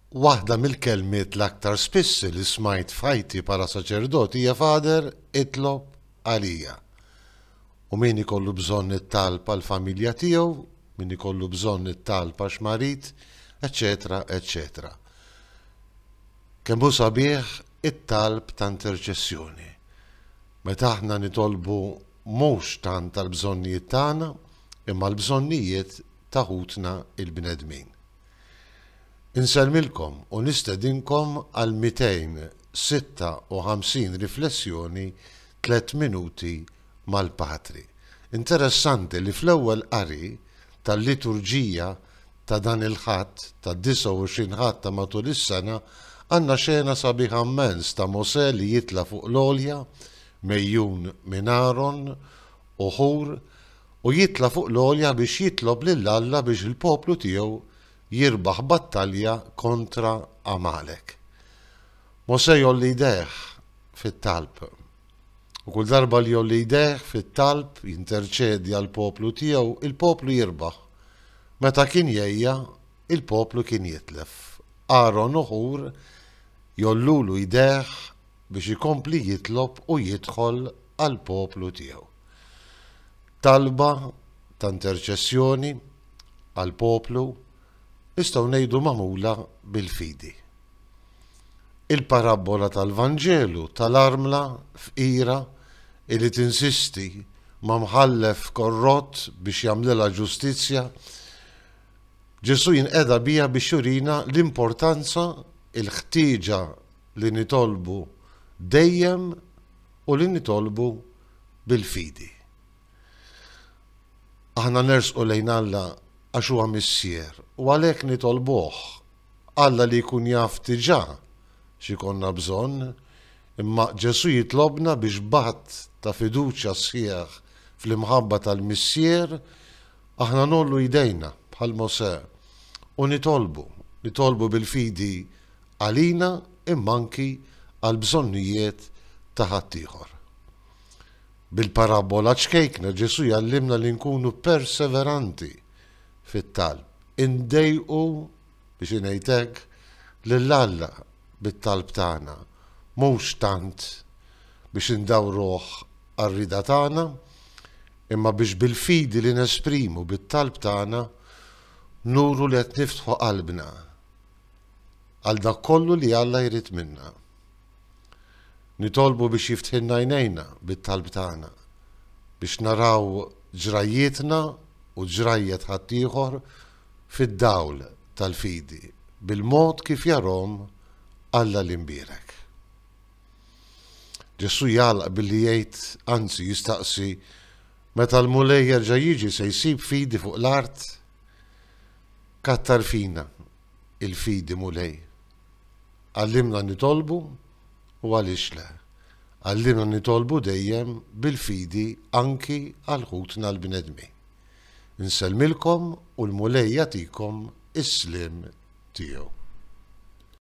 Waħda mill-kelmiet l-aktar spiss li smajt f'ħajti bħala saċerdot hija Fader, itlob għalija. U min ikollu bżonn it-talb għal familja tiegħu, min ikollu bżonn it-talb għax marid, eċetera, eċetera. Kemm hu sabiħ it-talb ta' interċessjoni. Meta aħna nitolbu mhux tant tal-bżonnijiet tagħna, imma l-bżonnijiet ta' ħutna il-bnedmin. Insellmilkom u nistedinkom għal 256 riflessjoni Tliet Minuti mal-Patri. Interessanti li fl-ewwel qari tal-liturġija ta' dan il-Ħadd, tad-29 Ħadd ta' matul is-sena, għandna xena sabiħa mmens ta' Mosè li jitla' fuq l-għolja, megħjun minn Aron u Ħur, u jitla' fuq l-għolja biex jitlob lil Alla biex il-poplu tiegħu jirbaħ battalja kontra Għamalek. Mosè jgħolli jdejh fit-talb. U kull darba li jgħolli jdejh fit-talb jinterċedi għall-poplu tiegħu, il-poplu jirbaħ. Meta kien jgħejja, il-poplu kien jitlef. Aron u Ħur jgħollulu jdejh biex ikompli jitlob u jidħol għall-poplu tiegħu. Talba ta' interċessjoni għall-poplu nistgħu ngħidu magħmula bil-fidi. Il-parabbola tal-Vanġelu tal-armla fqira li tinsisti ma' mħallef korrott biex jagħmlilha ġustizzja, Ġesù jinqeda biha biex jurina l-importanza, il-ħtieġa li nitolbu dejjem u li nitolbu bil-fidi. Aħna nersqu lejn Alla għax huwa Missier u għalhekk nitolbuh. Alla li jkun jaf diġà x'ikollna bżonn, imma Ġesù jitlobna bi xbhat ta' fiduċja sħiħ fl-imħabba tal-Missier aħna ngħollu jdejna bħal Mosè u nitolbu, nitolbu bil-fidi għalina imma anki għall-bżonnijiet ta' ħaddieħor. Bil-parabbola ċkejkna Ġesù jgħallimna li nkunu perseveranti fit-talb, indejqu, biex ngħid hekk, lil Alla bit-talb tagħna, mhux tant biex indawruh għar-rieda tagħna, imma biex bil-fidi li nesprimu bit-talb tagħna nuru li qed niftħu qalbna. għal dak kollu li Alla jrid minna. Nitolbu biex jiftħilna għajnejna bit-talb tagħna, biex naraw ġrajjietna u ġrajjet ħaddieħor fid-dawl tal-fidi, bil-mod kif jarahom Alla l-Imbierek. Ġesù jagħlaq billi jgħid, anzi jistaqsi, meta l-Mulej jerġa' jiġi se jsib fidi fuq l-art? Kattar fina il-fidi, Mulej? Għallimna nitolbu u għaliex le, għallimna nitolbu dejjem bil-fidi anki għal ħutna l-bnedmin. Nsellmilkom u l-Mulej jagħtikom is-sliem tiegħu.